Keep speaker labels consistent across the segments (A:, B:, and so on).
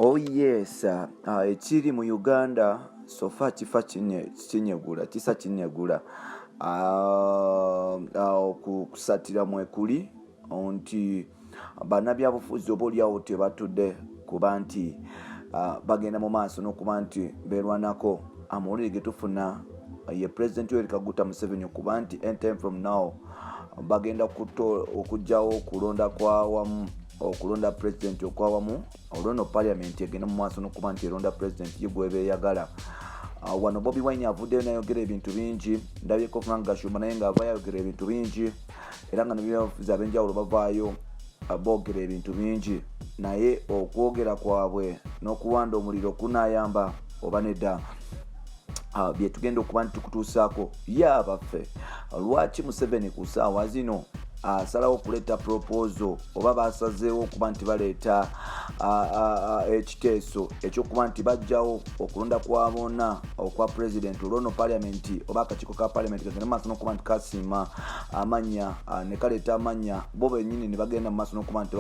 A: Oh yes, uh, uh, ekiri mu Uganda sofa kifa kinyegula kisa kinyegula uh, uh, okusatira mwekuli nti banabyabufuzi oba olyawo tebatudde kuba nti ah, bagenda mu maaso n'okuba nti beerwanako amawulire getufuna ye president yoweri kaguta museveni okuba nti anytime from now bagenda okugyawo okulonda kwawamu okulonda president okwawamu olwono parliament egenda mumaaso nokuba nti eronda president ye gwebeyagala ah, wano bobi wine avuddeyo nayogera ebintu bingi ndabyeko frank gashumba naye nga ava yayogera ebintu bingi era nga nebyabufuzi abenjawulo bavaayo uh, boogera ebintu bingi naye okwogera kwabwe n'okuwanda omuliro kunayamba oba nedda uh, byetugenda okuba nti tukutuusaako ye abaffe lwaki museveni ku saawa zino asalawo okuleeta propozo oba basazeewo okuba nti baleeta uh, ekiteeso ekyokuba nti bajjawo okulonda kwa bona okwa president olwono paliamenti oba akakiiko ka paliamenti kagenda mumaaso nokuba nti kasiima amanya ah, nekaleeta amanya bo benyini nebagenda mumaaso nokuba nti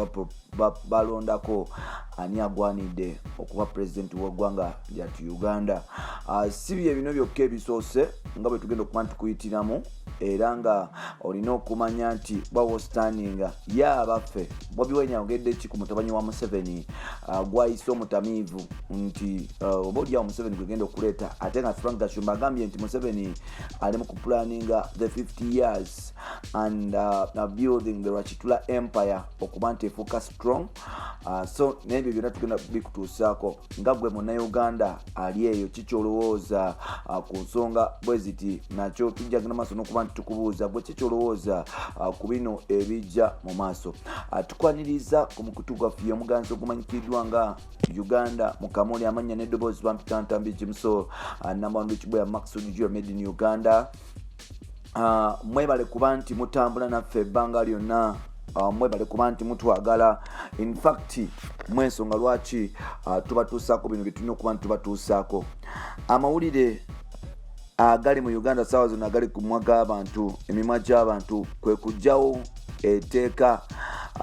A: balondako ani agwanidde okuba president wegwanga lyatu uganda ah, si byebino byokka ebisoose nga bwetugenda okuba nti kuyitiramu era nga olina okumanya nti bwawostandinga ye abaffe bobi wine ayogedde ki ku mutabanyi wa museveni uh, gwayise omutamiivu nti uh, oba olyawo museveni gwegenda okuleeta ate nga frank gashumba agambye nti museveni ali mu kupulaninga the 50 years and uh, building the rwakitula empire okuba nti efuuka strong ah, so nebyo byona tugenda bikutuusaako nga gwe munauganda ali eyo kikyolowooza ah, ku nsonga bwe ziti nakyo tujjagenda maaso nokuba nti tukubuuza gwe kikyolowooza ah, ku bino ebijja mu maaso tukwaniriza ku mukutu gwaffe yomuganzi ogumanyikiddwa nga uganda mukamoli amannya neddoboozi bampita ntambi jimso namwandu kibwera maxud jua made in uganda uh, mwebale kuba nti mutambula naffe ebbanga lyonna uh, mwebale kuba nti mutwagala infact mwensonga lwaki uh, tubatuusaako bino byetulina okuba nti tubatuusaako amawulire agali mu uganda saawa zona agali ku mwa g'abantu emimwa gy'abantu kwe kugjawo eteeka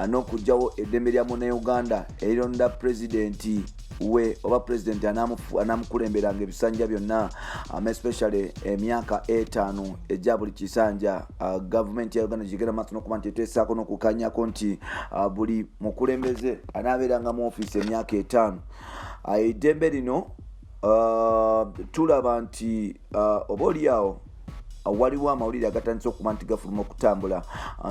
A: n'okugjawo eddembe lya munauganda erironda pulezidenti we oba pulezidenti anamukulemberanga ebisanja byonna um, especially emyaka etaano egya buli kisanja uh, gavumenti ya uganda gigenda maaso nokuba nti etesaako nokukanyako nti uh, buli mukulembeze anaabeeranga mu ofiisi emyaka etaano uh, eddembe lino uh, tulaba nti uh, oba oliawo waliwo amawulire agatandise okuba nti gafuluma okutambula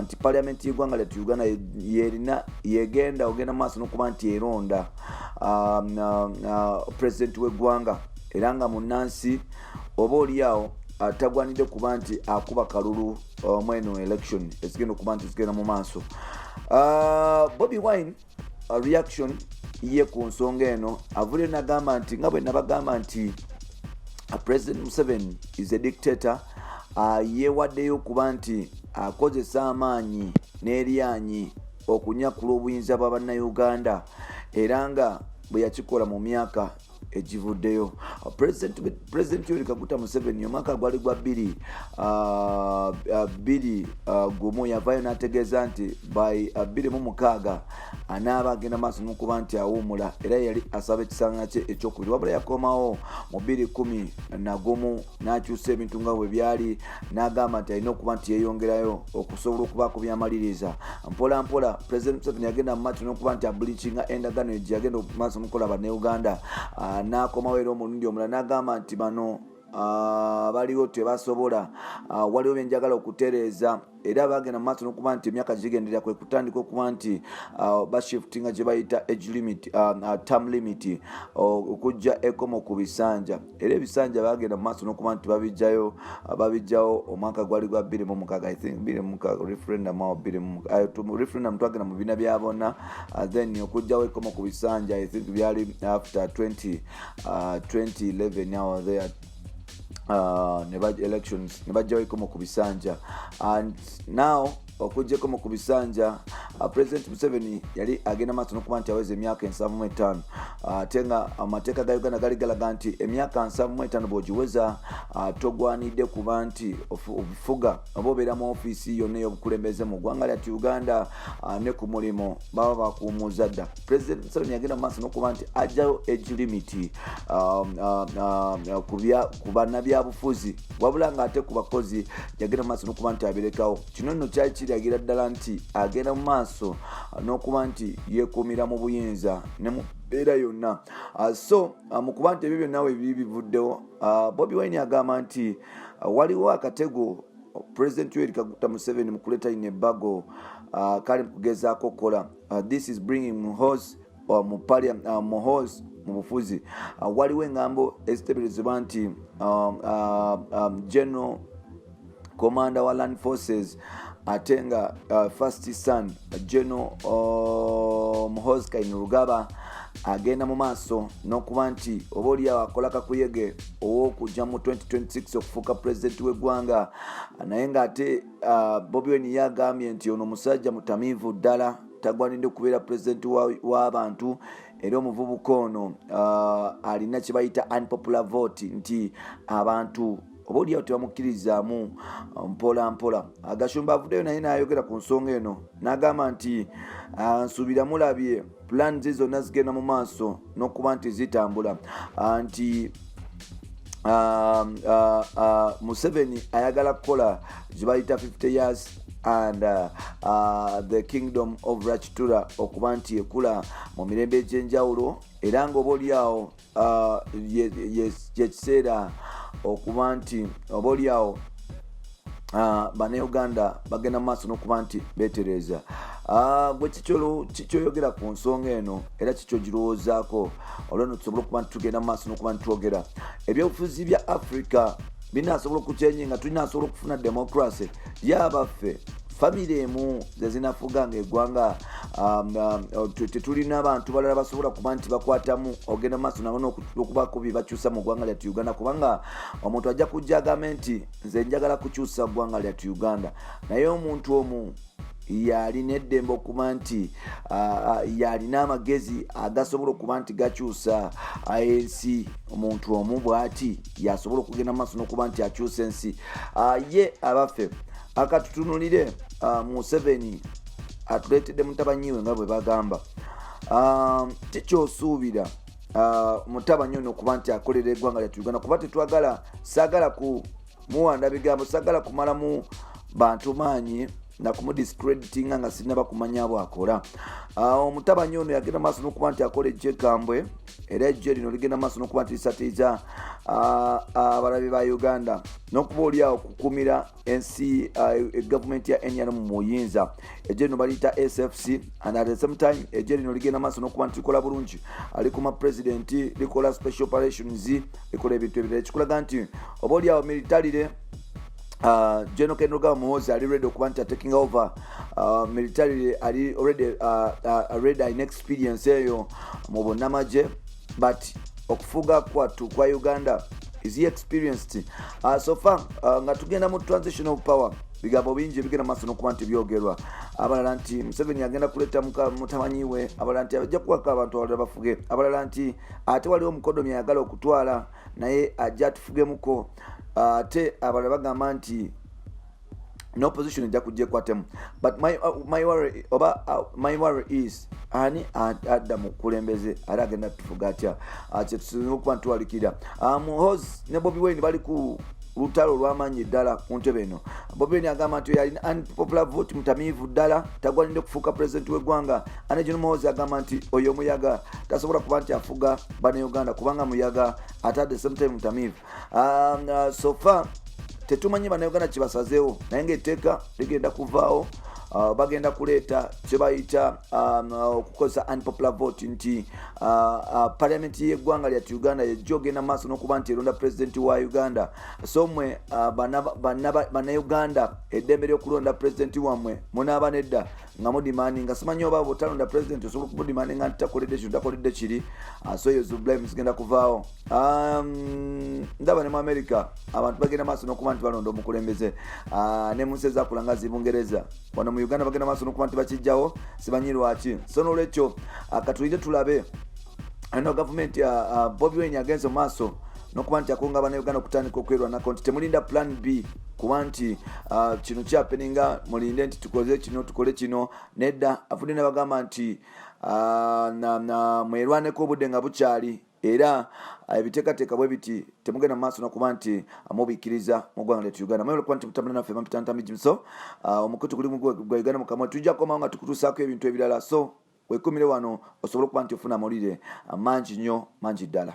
A: nti paliamenti yegwanga lyatu uganda yerina yegenda ogenda maaso nokuba nti eronda um, uh, uh, president wegwanga era nga munansi oba oliawo uh, tagwanidde kuba nti akuba kalulu mweno election ezigenda okuba nti zigenda mu maaso bobi wine A reaction ye ku nsonga eno avule nagamba nti nga bwe nabagamba nti uh, president museven is a dictator uh, yewaddeyo okuba nti akozesa uh, amaanyi n'eryanyi okunyakula obuyinza bwa bannauganda era nga bwe yakikola mu myaka ekivuddeyo pulezidenti yoweri kaguta museveni omwaka gwali gwa bbiri ah, ah, bbiri ah, gumu yavayo n'ategeeza nti by bbiri mu mukaaga anaaba agenda maaso nokuba nti awuumula era yali asaba ekisanga kye ekyokubiri wabula yakomawo mu bbiri kumi nagumu n'akyusa ebintu nga bwe byali n'agamba nti alina okuba nti yeeyongerayo okusobola okubaako byamaliriza mpola mpola pulezidenti museveni yagenda mu maaso n'okuba nti abulikinga endagaano egyo yagenda maaso mukola bannauganda ah, n'akomawo era omulundi omulala n'agamba nti bano ah, baliwo tebasobola ah, waliwo byenjagala okutereeza era bagenda mumaaso nokuba nti emyaka gigendera kwe kutandika okuba nti uh, bashiftinga gyebayita age limit um, uh, term limit uh, okujja ekomo ku bisanja era ebisanja bagenda mumaaso nokuba nti babijjayo babijjawo omwaka gwali gwa biri mumukaga ithink biri mumukaga referendum awo biri referendum twagenda mu bina bya bonna then okujjawo ekomo ku bisanja ithink byali after 20 uh, 2011 awo there uh, ne ba elections ne bajjawo ekomo ku bisanja and now okujja ekomo ku bisanja uh, president museveni yali agenda maaso nokuba nti aweza emyaka ensanvu mu etaano uh, ate nga amateeka ga uganda gali galaga nti emyaka nsanvu mu etaano bwogiweza uh, togwanidde kuba nti obufuga oba obeera mu ofiisi yonna ey'obukulembeze mu ggwanga lyati uganda uh, ne ku mulimu baba bakuumuuza dda president museveni yagenda mu maaso nokuba nti ajjayo age limit um, um, um, ku banabyabufuzi wabula nga ate ku bakozi yagenda mu maaso nokuba nti abirekawo kino nno kyali kiragira ddala nti agenda mu maaso nokuba nti yekuumira mu buyinza ne mu mbeera yonna uh, so uh, mu kuba nti ebyo byonna webibi bivuddewo uh, bobi wine agamba nti waliwo akatego president yoweri kaguta museveni mu kuleeta ino ebbago kali mu kugezaako okukola uh, this is bringing muhos uh, mu parliament uh, muhos mu bufuzi uh, waliwo engambo eziteberezebwa nti um, uh, um, general commander wa land forces ate nga uh, first son general uh, muhos kainurugaba agenda mu maaso n'okuba nti oba oliawo akola kakuyege ow'okujja mu 2026 okufuuka pulezidenti w'eggwanga naye ng'ate uh, bobi wen ye agambye nti ono musajja mutamiivu ddala tagwanidde kubeera pulezidenti w'abantu wa era omuvubuka ono uh, alina kyebayita unpopular vote nti abantu oba oliawo tebamukkirizaamu uh, mpola mpola agashumba uh, avuddeyo naye nayogera ku nsonga eno n'agamba nti uh, nsuubira mulabye pulaanizi zonna zigenda mu maaso n'okuba nti zitambula ah, nti ah, ah, museveni ayagala kukola zibayita 50 years and uh, uh, the kingdom of rachitura okuba nti ekula mu mirembe egy'enjawulo era ngaoba olyawo uh, yekiseera okuba nti oba olyawo uh, banauganda bagenda mu maaso nokuba nti betereeza Ah, gwe kikyoyogera ku nsonga eno era kikyogirowoozaako olweno tusobole okuba nti tugenda mu maaso nokuba nitwogera ebyobufuzi bya africa binasobola okukyenye nga tulinasobola okufuna democracy ye abaffe famire emu zezinafuga nga egwanga um, um, tetulina abantu balala basobola kuba nti bakwatamu ogenda mumaaso nabo nokubaku byebakyusa mu gwanga lyatu uganda kubanga omuntu ajja kujja agambe nti nze njagala kukyusa gwanga lyatu uganda naye omuntu omu yalina eddembe okuba nti yalina amagezi agasobola okuba nti gakyusa ensi omuntu omu bwati yasobola okugenda maaso nokuba nti akyusa ensi ah, ye abaffe akatutunulire ah, museveni atuleetedde mutabanyiwe nga bwe bagamba ah, tikyosuubira mutabanyi ono okuba nti akolera egwanga lyatu uganda kuba tetwagala sagala ku muwanda bigambo sagala kumalamu bantu maanyi nakumudiscreditinga nga sinaba kumanya bwakola omutabanyi ono yagenda maaso nokuba nti akola ekyekambwe era ejjo lino ligenda maaso nokuba nti lisatiiza abalabi ba uganda nokuba oliawo kukumira ensi e gavumenti ya nrm muyinza ejjo lino baliyita sfc and at the same time ejjo lino ligenda maaso nokuba nti likola bulungi alikuma president likola special operations likola ebintu ebirala ekikulaga nti oba oliawo militarire Uh, general ken rugaba muhozi ali ready okuba nti ataking over uh, military ali already uh, uh, ready next experience eyo mu bunamagye but okufuga kwattu kwa uganda is he experienced uh, so far uh, nga tugenda mu transition of power bigambo bingi ebigenda maaso nokuba nti byogerwa abalala nti museveni agenda kuleeta mutamanyi we abalala nti ajja kuwaka abantu abalala bafuge abalala nti ate waliwo omukodomi ayagala okutwala naye ajja atufugemuko ate abalala bagamba nti no position ejja kujja ekwatemu but my, uh, my worry oba uh, my worry is ani adda mu kulembeze ate agenda tufuga atya uh, kyetusinza okuba ntuwalikira um, hos ne bobi wayne bali ku lutalo olwamaanyi ddala ku ntebe eno bobi wayne agamba nti yalina unpopular vote mutamiivu ddala tagwanidde kufuuka president w'eggwanga ane john mohosi agamba nti oyo omuyaga tasobola kuba nti afuga banauganda kubanga muyaga ate at the same time mutamiivu um, uh, sofa tetumanyi banauganda kibasazeewo naye ngaetteeka ligenda kuvaawo uh, bagenda kuleeta kyebayita um, uh, okukozesa unpopular vote nti uh, uh, parliament yeggwanga lyatu uganda yejja ogenda maaso nokuba nti eronda president wa uganda so mwe uh, banauganda eddembe lyokulonda president wammwe munaaba nedda nga mudimani nga simanyi oba bwotalonda president osobola okumudimani nga ntitakoledde kino takoledde kiri ah, so eyo zublime zigenda kuvaawo um, ndaba ne mu america abantu bagenda maaso nokuba nti balonda omukulembeze ah, ne munsi ezakula nga zibungereza wano mu uganda bagenda maaso nokuba nti bakijjawo simanyi lwaki so nolwekyo ah, katulire tulabe ano gavumenti bobi wen agenze mu maaso nokuba nti akunga banauganda okutandika okwerwanako nti temulinda plan b kuba nti uh, kino kyapeninga mulinde nti tukoze kino tukole kino nedda afudde nebagamba nti uh, mwerwaneko obudde nga bukyali era uh, ebiteekateeka bwe biti temugenda mu maaso nokuba nti mubikkiriza mu ggwanga lyatu uganda mwebale kuba nti mutambula naffe mampitantami jimso omukutu guli gwa uganda mukamwa tujja kukomawo nga tukutuusaako ebintu ebirala so wekumire wano osobole okuba nti ofuna amawulire mangi nnyo mangi ddala